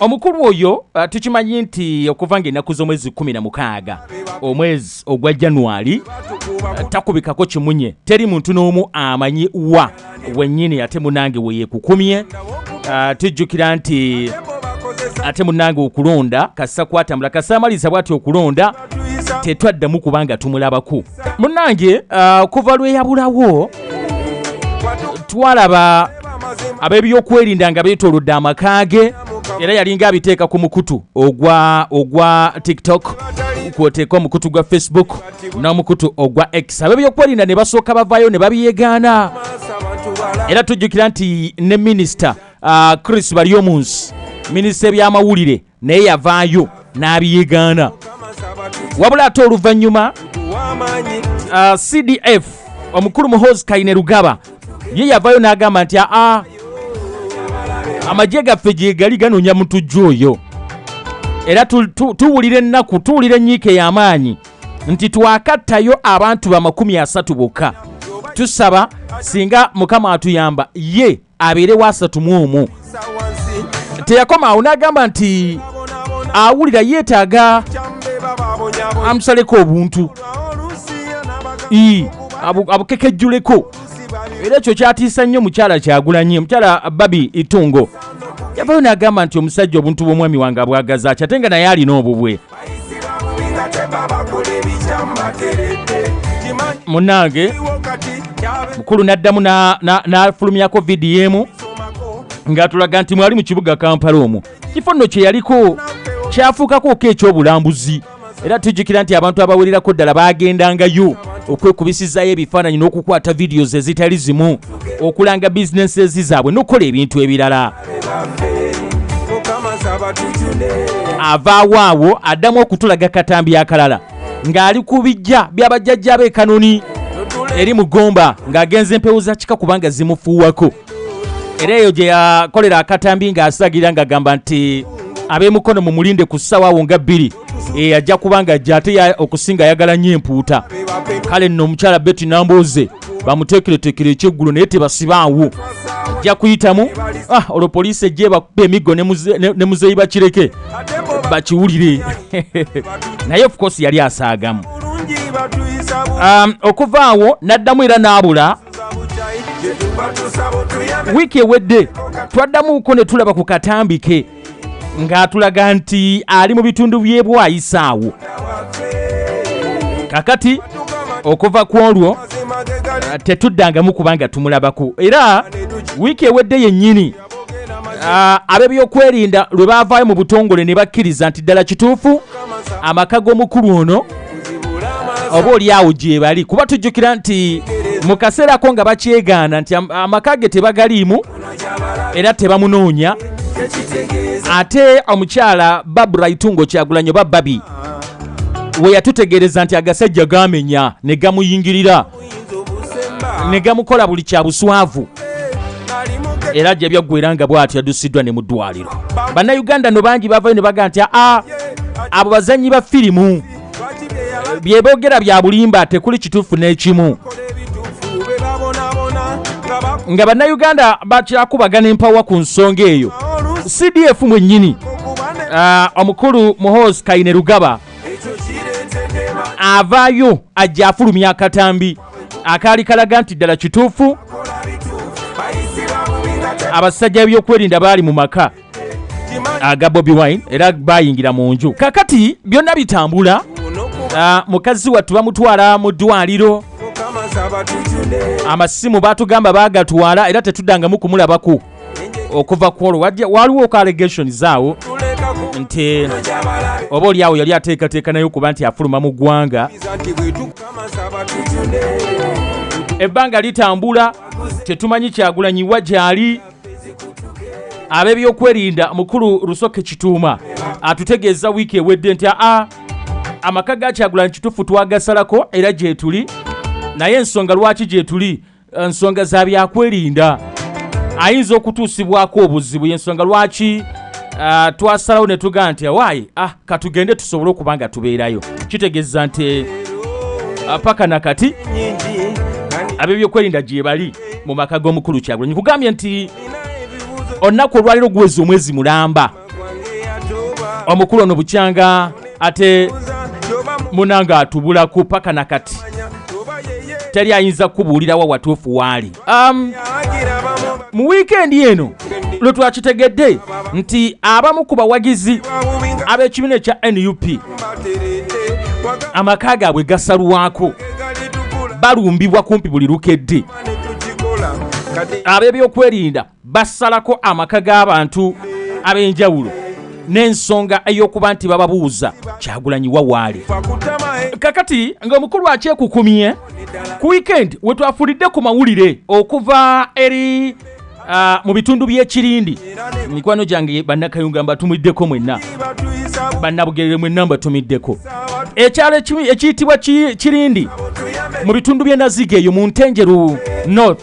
Omukulu oyo uh, tukimanyi nti okuva nga ennaku z'omwezi kumi na mukaaga omwezi ogwa January uh, takubikako kimunye teri muntu n'omu amanyi wa wennyini ate munange weyekukumye uh, tujjukira nti ate munange okulonda kasa kwatambula kasa amaliza bwati okulonda tetwaddamu kubanga tumulabako munange uh, kuva lweyabulawo twalaba ab'ebyokwerinda nga beetolodde amaka ge era yalinga abiteeka ku mukutu ogwa ogwa tiktok kwoteeka omukutu gwa facebook n'omukutu ogwa x ab'ebyokwerinda ne basooka bavaayo ne babyegaana era tujjukira nti ne minisita uh, chris balyomunsi minisita ebyamawulire naye yavaayo n'abiyegaana wabula ate oluvannyuma uh, cdf omukulu muhoozi kaine lugaba ye yavaayo n'agamba nti aa ah, ah, amagye gaffe gyegali ganoonya mutujju oyo era tuwulira ennaku tuwulira enyiika ey'amaanyi nti twakattayo abantu bamakumi asatu bokka tusaba singa mukama atuyamba ye abeere waasatu mu omu teyakoma awo n'agamba nti awulira yeetaaga amusaleko obuntu abukekejjuleko era ekyo kyatiisa nnyo mukyala kyagulanye omukyala babi itungo yavayo n'agamba nti omusajja obuntu bw'omwami wange abwagaza ky ate nga naye alina obubwe munange mukulu n'addamu n'afulumyako vidiyo emu ng'atulaga nti mwali mu kibuga kampala omwo kifo nno kye yaliko kyafuukakooko ekyobulambuzi era tujjukira nti abantu abawererako ddala baagendangayo okwekubisizaayo ebifaananyi n'okukwata vidiyo ze zitali zimu okulanga bizinensi ezi zaabwe n'okukola ebintu ebirala avaawo awo addamu okutulaga katambi akalala ng'ali ku bijja byabajjajja be kanoni eri mugomba ng'agenza empewo za kika kubanga zimufuuwako era eyo gye yakolera akatambi ng'asagira ng'agamba nti ab'emukono mumulinde ku ssaawa awo nga bbiri eyajja eh, kubanga ajja ate okusinga ayagala nnyo empuuta kale nno omukyala beti nambuuze bamuteekereteekere ekyeggulo naye tebasibaawo ajja kuyitamu ah, olwo poliisi ejja ebakuba emiggo ne muzeeyi bakireke bakiwulire naye ofcourse yali asaagamu um, okuva awo n'addamu era n'abula wiiki ewedde twaddamuko ne tulaba ku katambike ng'atulaga nti ali mu bitundu by'ebwayisaawo kakati okuva ku olwo tetuddangamu kubanga tumulabako era wiiki ewedde yennyini Ah, ab'ebyokwerinda lwe baavaayo mu butongole ne bakkiriza nti ddala kituufu amaka g'omukulu ono oba oli awo gyebali kuba tujjukira nti mu kaseerako nga bakyegaana nti amaka ge tebagaliimu era tebamunoonya ate omukyala babura itungo kyagulanyo bababi we yatutegeereza nti agasajja gamenya ne gamuyingirira ne gamukola buli kya buswavu era ajja byaggwera nga bwati yaddusiddwa ne mu ddwaliro bannayuganda no bangi bavayo ne baga nti aa abo bazannyi ba firimu byebogera bya bulimba tekuli kituufu n'ekimu nga bannayuganda bakyakubagana empawa ku nsonga eyo cdf mwennyini ah, omukulu muhoozi kaine rugaba avaayo ajja afulumya akatambi akaali kalaga nti ddala kituufu abasajja b'ebyokwerinda baali mu maka aga bobi wine era bayingira mu nju kakati byonna bitambula ah, mukazi wattu bamutwala mu ddwaliro amasimu batugamba bagatwala era tetuddangamu kumulabako okuva ku olwo waliwo oku allegations awo nti oba oli awo yali ateekateeka naye okuba nti afuluma mu ggwanga ebbanga litambula tetumanyi kyagulanyiwa gyali ab'ebyokwerinda mukulu rusoke kituuma atutegeeza wiiki ewedde nti aa amaka ga kyagulanyi kitufu twagasalako era gyetuli naye ensonga lwaki gyetuli eh, nsonga za byakwerinda ayinza okutuusibwako obuzibu yensonga lwaki uh, twasalawo ne tugaa nti awaayi ah, katugende tusobole okuba nga tubeerayo kitegeeza nti uh, paka na kati abebyokwerinda gyebali mu maka g'omukulu kyagulanyi kugambye nti olunaku olwaliro guweza omwezi mulamba omukulu ono bukyanga ate munanga atubulako paka na kati teri ayinza kukubuulirawo watuufu waali um, mu wiikendi eno lwe twakitegedde nti abamu ku bawagizi ab'ekibiina ekya nup amaka gaabwe gasalwako balumbibwa kumpi buli lukedde ab'ebyokwerinda basalako amaka g'abantu ab'enjawulo n'ensonga ey'okuba nti bababuuza kyagulanyi wawaali kakati nga omukulu akyekukumye ku wiikendi we twafulidde ku mawulire okuva eri ah, mu bitundu by'ekirindi mikwano gyange bannakayunga mbatumiddeko mwenna bannabugerere mwenna mbatumiddeko ekyalo ekiyitibwa kirindi mu bitundu by'enaziga eyo mu ntenjeru north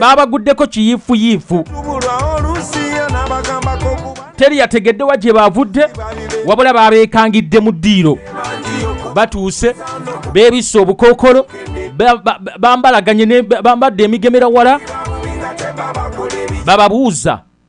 baabaguddeko kiyiifuyiifu teri yategedde wa gye baavudde wabula baabeekangidde mu ddiiro batuuse beebisse obukookolo bambalaganye bambadde emigemera wala bababuuza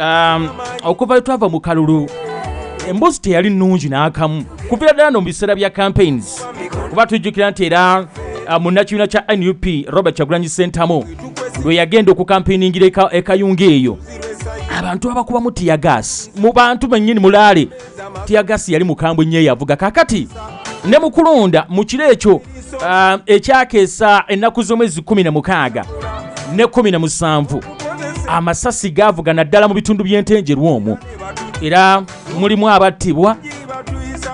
um, okuva twava mu kalulu emboozi teyali nnungi n'akamu kuviira ddala no mu biseera bya campaigns kuba tujjukira nti era uh, munnakibiina kya nup robert kyagulanyi sentamu lwe yagenda okukampeiningira ekayunga eyo abantu abakubamu tiyagaasi mu bantu bennyini mulaale tiyagasi yali mukambwe nnyo eyavuga kakati ne mu kulonda mu kiro ekyo uh, ekyakeesa ennaku z'omwezi 16 ne 17 amasasi gaavuga naddala mu bitundu by'entenjerwa omwo era mulimu abattibwa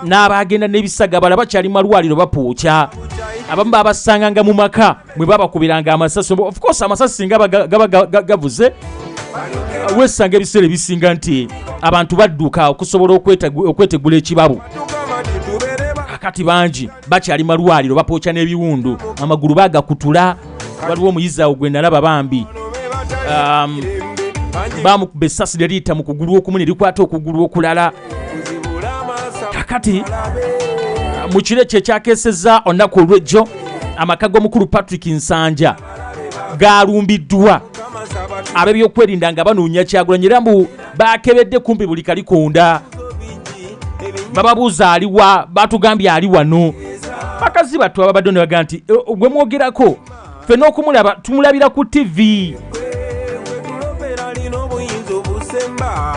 n'abaagenda n'ebisagabala bakyali malwaliro bapuukya abamu babasanganga mu maka mwe babakubiranga amasasi of course amasasi singa gaba gavuze wesanga ebiseera ebisinga nti abantu badduka okusobola okwetegula ekibabu kati bangi bakyali malwaliro bapooca n'ebiwundu amagulu bagakutula waliwo omuyizi awo gwe nalaba bambi um, bamukuba essasi lyeriyita mu kugulu okumu ne likwata okugulu okulala kakati mu kiro ekyo ekyakeseza olunaku olwejjo amaka g'omukulu patrick nsanja galumbiddwa ab'ebyokwerinda nga banoonya kyagulanyi era mbu bakebedde kumpi buli kalikonda bababuuza aliwa batugambye ali wano bakazi battu ababadde ne baga nti e, gwe mwogerako ffe n'okumulaba tumulabira ku tivi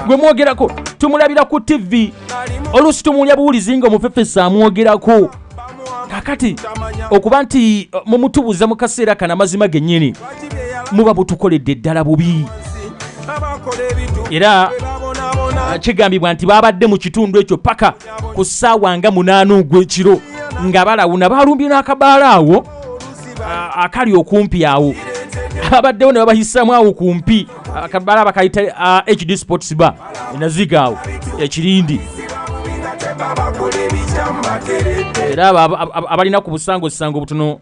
gwe mwogerako tumulabira ku tivi oluusi tumuwulya buwulizi nga omufefesi amwogerako kakati okuba nti uh, mumutubuza mu kaseera kana amazima gennyini muba butukoledde ddala bubi era uh, kigambibwa nti babadde mu kitundu ekyo paka ku ssaawa nga munaana ogw'ekiro nga balawuna balumbye n'akabaala awo akali okumpi awo ababaddewo ne babahisamu awo kumpi akabala bakayita hd sports ba enaziga awo ekirindi era abalina ku busango sisango butono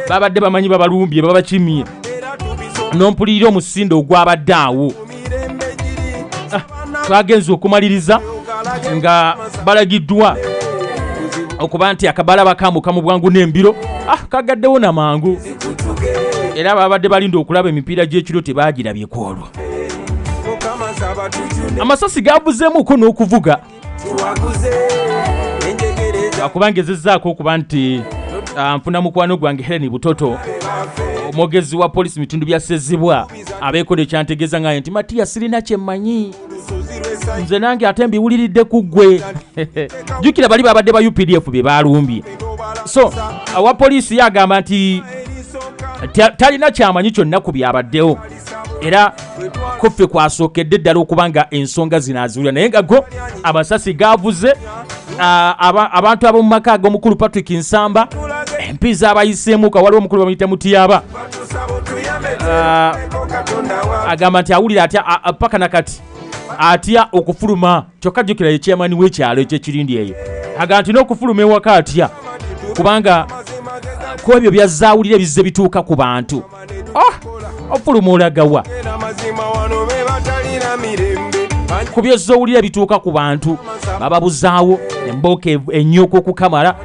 babadde bamanyi babalumbye babakimye nompulirira omusindo ogwabadde awo ah, twagenze okumaliriza nga balagiddwa okuba nti akabala bakambuka mu bwangu n'embiro ah, kagaddewo na mangu era babadde balinda okulaba emipiira gy'ekiro tebaagirabyeko olwo amasasi gabuzeemuko n'okuvuga kubanga ezizzaako okuba nti ah, nfuna mukwano gwange helen butoto omwogezi wa polisi mubitundu bya sezibwa abeekola ekyantegeeza ngaye nti matiya sirina kyemmanyi nze nange ate mbiwuliridde ku ggwe jjukira bali babadde ba updf bye balumbye so awa poliisi ye agamba nti talina kyamanyi kyonna ku byabaddewo era kuffe kwasookedde ddala okuba nga ensonga zino aziwulira naye nga go amasasi gaavuze abantu ab'omu maka ag'omukulu patrick nsamba empi zaabayiseemuka waliwo omukulu bamuyita mutiyaba agamba nti awulira atya paka na kati atya okufuluma kyokka jjukira ye chairman w'ekyalo ekyekirindi eyo aga nti n'okufuluma ewaka atya kubanga ku ebyo byazaawulira bizze bituuka ku bantu oh, ofuluma olagawa ku byozza owulira bituuka ku bantu bababuzaawo embooko enyoka okukamala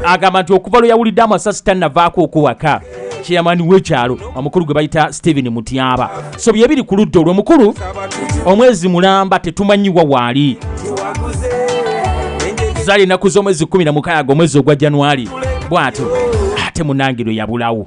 agamba nti okuva lwe yawulidde amasasi tannavaako okuwaka chairman wekyalo omukulu gwe bayita stephen mutyaba so byebiri ku ludda olwo mukulu omwezi mulamba tetumanyiwa waali zali ennaku z'omwezi 16 omwezi ogwa januari bwatyo ate munangirwe yabulawo